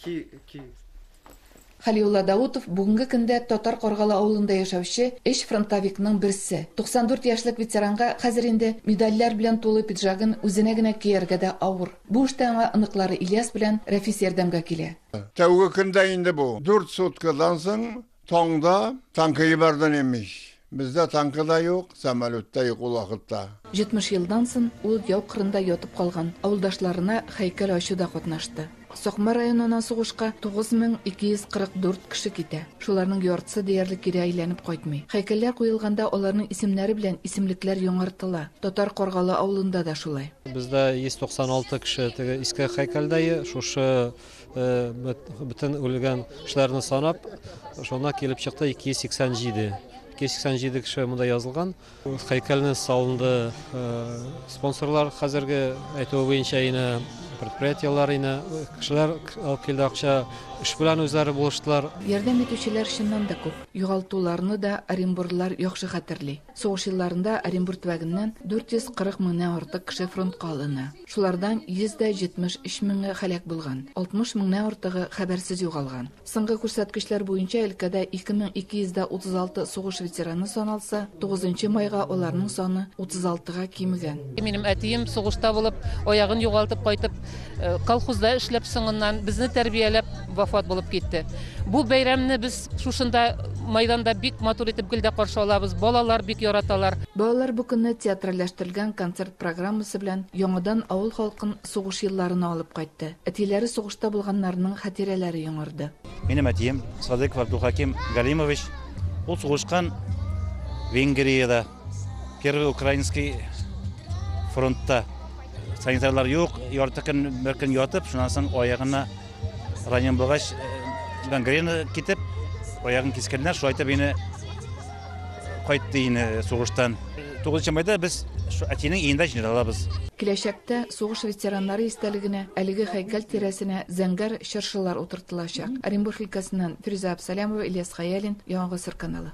Ки, ки. Хәлиулла Даутов, бүгенге көндә Татар Каргалы авылында яшәүче өч фронтовикның берсе. 94 яшьлек ветеранга хәзер инде медальләр белән тулы пиджагын үзенә генә кияргә дә авыр. Бу эштә аңа оныклары Ильяс белән Рәфис ярдәмгә килә. Тәүге көндә инде бу. Дүрт суткадан соң Таңда танкы ебәрден имеш. Бездә танкы да юк, самолет та юк ул вакытта. 70 елдан сон ул яу кырында ятып калган авылдашларына хәйкәл ачуда катнашты. Сакмар районына сугышка 9244 кеше китә. Шуларның яртысы диярлек кире әйләнеп кайтмый. Хәйкәлләр куелганда аларның исемнәре белән исемлекләр яңартыла. Татар Каргалы авылында да шулай. Бездә 196 кеше теге иске хәйкәлдә, шушы Бөтен үлгән кешеләрне санап, шуна килеп чыкты 287. 287 кеше монда язылган. Һәйкәлне салынды спонсорлар хәзерге әйтүе буенча ине предприятиеләр ине кешеләр алып килде акча эш белән үзләре булыштылар. Ярдәм итүчеләр чыннан да күп. Югалтуларны да Оренбурлылар яхшы хәтерли. Сугыш елларында Оренбур төбәгеннән 440 меңнән артык кеше фронтка алына. Шулардан 173 меңе һәлак булган, 60 меңнән артыгы хәбәрсез югалган. Соңгы күрсәткечләр буенча өлкәдә 2236 сугыш ветераны саналса, 9 майга аларның саны 36 га кимегән. Минем әтием сугышта булып, аягын югалтып кайтып, Э, колхозда эшләп соңыннан безне тәрбияләп вафат булып китте бу бәйрәмне без шушында майданда бик матур итеп гел дә каршы алабыз балалар бик яраталар балалар бу көнне театральләштерелгән концерт программасы белән яңадан авыл халкын сугыш елларына алып кайтты әтиләре сугышта булганнарның хатирәләре яңарды минем әтием садыков абдулхаким галимович ул сугышкан венгриядә Первый украинский фронтта санитарлар юк, ярты көн бер көн ятып, шуннан соң аягына ранен булгач, э, гангрена китеп, аягын кискәннәр, шулай итеп мине кайтты инде э, сугыштан. 9 майда без әтинең өендә җыйналабыз. Киләчәктә сугыш ветераннары истәлегенә әлеге һәйкәл тирәсенә зәңгәр чыршылар утыртылачак. Оренбург өлкәсеннән Фирүзә Абсалямова, Ильяс Хаялин, Яңа гасыр каналы.